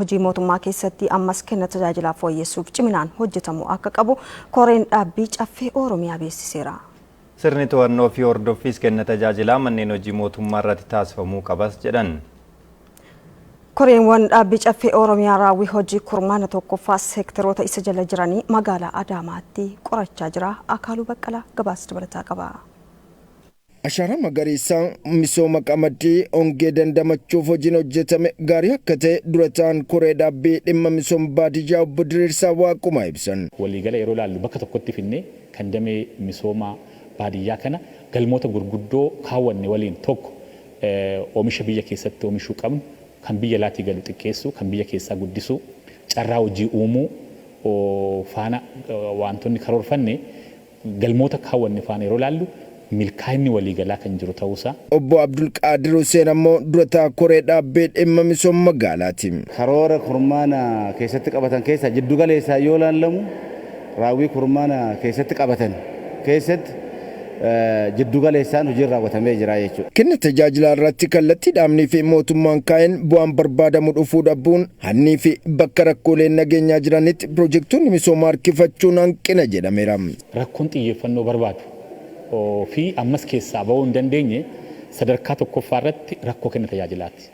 Hojii mootummaa keessatti ammas kenna tajaajilaa fooyyessuuf ciminaan hojjetamuu akka qabu Koreen Dhaabbii Caffee Oromiyaa beeksiseera. Sirni to'annoo fi hordoffiis kenna tajaajilaa manneen hojii mootummaa irratti taasifamuu qabas jedhan. Koreenwan Dhaabbii Caffee Oromiyaa raawwii hojii kurmaana 1ffaa seekteroota isa jala jiranii magaalaa Adaamaatti qorachaa jira. Akaaluu Baqqalaa gabaasa dabalataa qaba. Ashaaraa Magariisaan misooma qamadii hongee dandamachuuf hojiin hojjetame gaarii akka ta'e Dura Taa'aan Koree Dhaabbii Dhimma Misooma Baadiyyaa Obbo Diriirsaa Waaqumaa ibsan. Waliigala yeroo ilaallu bakka tokkotti fidnee kan damee misooma baadiyyaa kana galmoota gurguddoo kaawwanne waliin tokko oomisha biyya keessatti oomishuu qabnu kan biyya alaatii galu xiqqeessuu, kan biyya keessaa guddisuu, carraa hojii uumuu faana waantonni karoorfanne Galmoota kaawwanne faana yeroo ilaallu milkaa'inni waliigalaa kan jiru ta'uu isaa. Obbo Abdulqaadir Huseen ammoo durataa koree dhaabbee dhimma misooma magaalaati. Karoora kurmaana keessatti qabatan keessaa jiddu galeessaan yoo ilaallamu raawwii kurmaana keessatti qabatan keessatti jiddu galeessaan hojiin raawwatamee jira jechuudha. Kenna tajaajilaa irratti kallattii dhaabnii fi mootummaan kaa'een bu'aan barbaadamu dhufuu dhabuun Hannii fi bakka rakkooleen nageenyaa jiranitti pirojektoonni misoomaa harkifachuun hanqina jedhameera. Rakkoon xiyyeeffannoo barbaadu fi ammas keessaa ba'uu hin dandeenye sadarkaa tokkoffaa irratti rakkoo kenna tajaajilaati.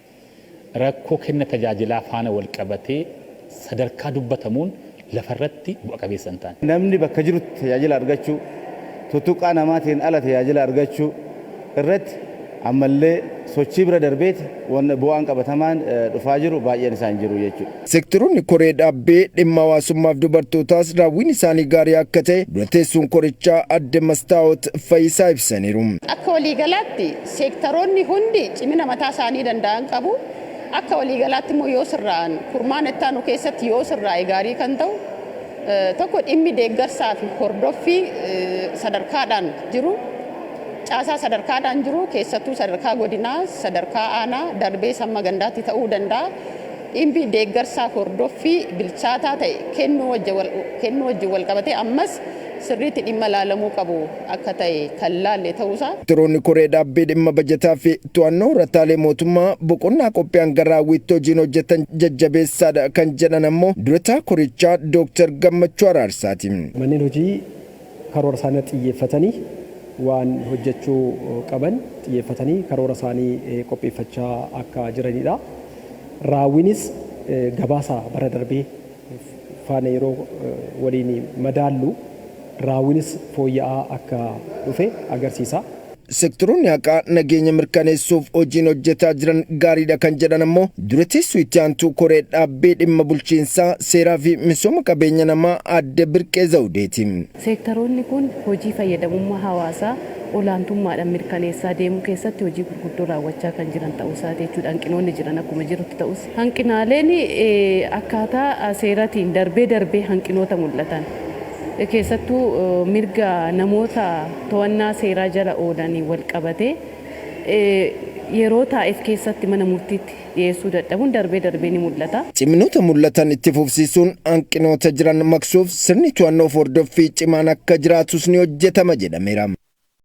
Rakkoo kenna tajaajilaa faana walqabatee sadarkaa dubbatamuun lafa irratti bu'a qabeessa hin taane. Namni bakka jirutti tajaajila argachuu, tuttuqqaa namaatiin ala tajaajila argachuu irratti ammallee sochii bira darbeeti wanna bu'aan qabatamaan dhufaa jiru baay'een isaa hin jiru jechuudha. Sekteroonni koree dhaabbee dhimma hawaasummaaf dubartootaas raawwiin isaanii gaarii akka ta'e dura teessuun korichaa Aadde Mastaawot Fayisaa ibsaniiru. Akka waliigalaatti seektaroonni hundi cimina mataa isaanii danda'an qabu. Akka waliigalaatti immoo yoo sirraa'an kurmaana itti aanu keessatti yoo sirraa'e gaarii kan ta'u tokko dhimmi deeggarsaa fi hordoffii sadarkaadhaan jiru caasaa sadarkaadhaan jiru keessattuu sadarkaa godinaa sadarkaa aanaa darbees hamma gandaatti ta'uu danda'a. Dhimmi deeggarsaa hordoffii bilchaataa ta'e kennuu wajjin walqabatee ammas sirriitti dhimma ilaalamuu qabu akka ta'e kan laalle ta'uusaa. Turuun Koree Dhaabbii Dhimma Bajataa fi To'annoo Rataalee Mootummaa boqonnaa qophii hanga raawwiitti hojiin hojjetan jajjabeessaadha kan jedhan ammoo Durataa Korichaa Dooktar Gammachuu Araarsaati. Manneen hojii karoora isaanii irratti xiyyeeffatanii waan hojjechuu qaban xiyyeeffatanii karoora isaanii qopheeffachaa akka jiraniidha. Raawwiinis gabaasa bara darbee. faana yeroo waliin madaallu raawwiinis fooyya'aa akka dhufe agarsiisa. Seektaroonni haqaa nageenya mirkaneessuuf hojiin hojjetaa jiran gaariidha kan jedhan ammoo Dura Teessuu Itti Aantuu Koree Dhaabbii Dhimma Bulchiinsaa, Seeraa fi Misooma Qabeenya Namaa Aadde Birqee Zawudeeti. Seektaroonni kun hojii fayyadamummaa hawaasaa olaantummaadhaan mirkaneessaa deemuu keessatti hojii gurguddoo raawwachaa kan jiran ta'uu isaati jechuudha. Hanqinoonni jiran akkuma jirutti ta'us, hanqinaaleen akkaataa seeratiin darbee darbee hanqinoota mul'atan, keessattuu mirga namoota to'annaa seeraa jala oolaniin walqabatee yeroo taa'eef keessatti mana murtiitti. dhiyeessuu dadhabuun darbee darbee ni mul'ata. Ciminoota mul'atan itti fufsiisuun hanqinoota jiran maqsuuf sirni to'annoof hordoffii cimaan akka jiraatus ni hojjetama jedhameera.